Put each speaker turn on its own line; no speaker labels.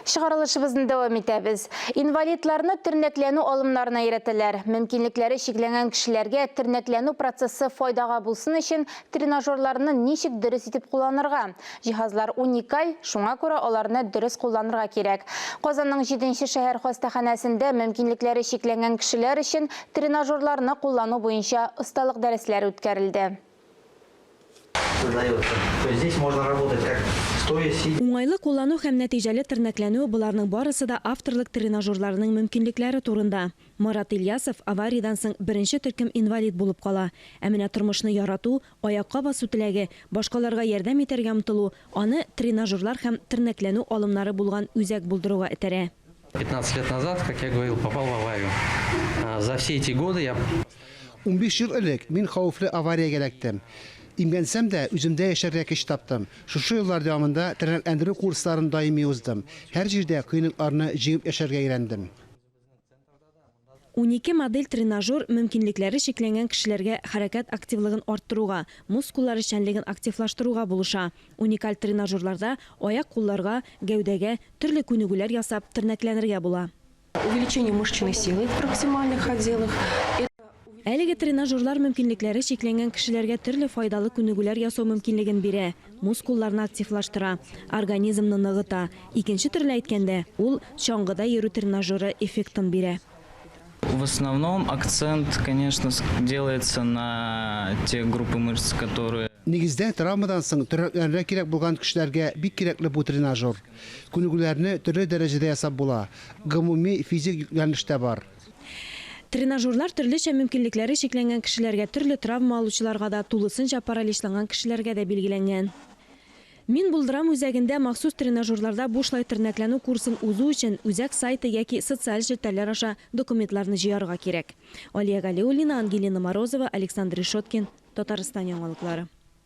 Чыгарылышыбызны дәвам итәбез. Инвалидларны тернәкләнү алымнарына өйрәтәләр. Мөмкинлекләре чикләнгән кешеләргә тернәкләнү процессы файдага булсын өчен тренажерларны ничек дөрес итеп кулланырга? Җиһазлар уникаль, шуңа күрә аларны дөрес кулланырга кирәк. Казанның җиденче шәһәр хастаханәсендә мөмкинлекләре чикләнгән кешеләр өчен тренажерларны куллану буенча осталык дәресләре үткәрелде.
Уңайлы куллану һәм
нәтиҗәле тернәкләнү, боларның барысы да авторлык тренажерларының мөмкинлекләре турында. Марат Ильясов авариядән соң беренче төркем инвалид булып кала. Ә менә тормышны ярату, аякка басу теләге, башкаларга ярдәм итәргә омтылу аны тренажерлар һәм тернәкләнү алымнары булган үзәк булдыруга этәрә. 15 лет назад,
как я говорил, попал в аварию. За все эти годы я. Унбиш ел
элек мин хәвефле авариягә эләктем. Имгәнсәм дә, үземдә яшәргә көч таптым. Шушы еллар дәвамында тернәкләндерү курсларын даими уздым. Һәр җирдә кыенлыкларны җиңеп яшәргә өйрәндем.
Унике модель тренажер мөмкинлекләре чикләнгән кешеләргә хәрәкәт активлыгын арттыруга, мускуллар эшчәнлеген активлаштыруга булыша. Уникаль тренажерларда аяк-кулларга, гәүдәгә, төрле күнегүләр ясап, тернәкләнергә була. Увеличение
мышечной силы в проксимальных отделах. Әлеге
тренажерлар мөмкинлекләре чикләнгән кешеләргә төрле файдалы күнегүләр ясау мөмкинлеген бирә, мускулларны активлаштыра, организмны ныгыта, икенче төрле әйткәндә, ул чаңгыда йөрү тренажеры эффектын бирә. В
основном акцент, конечно, делается на те группы мышц, которые. Нигездә, травмадан
соң тернәкләренә кирәк булган кешеләргә бик кирәкле бу тренажер. Күнегүләрне төрле дәрәҗәдә ясап була, гомуми физик йөкләнеш тә бар. Тренажерлар
төрлечә мөмкинлекләре чикләнгән кешеләргә, төрле травма алучыларга да, тулысынча параличланган кешеләргә дә билгеләнгән. Мин Булдырам үзәгендә махсус тренажерларда бушлай тернәкләнү курсын узу өчен үзәк сайты яки социаль челтәрләр аша документларны җыярга кирәк. Алия Галиуллина, Ангелина Морозова, Александр Решеткин, Татарстан яңалыклары.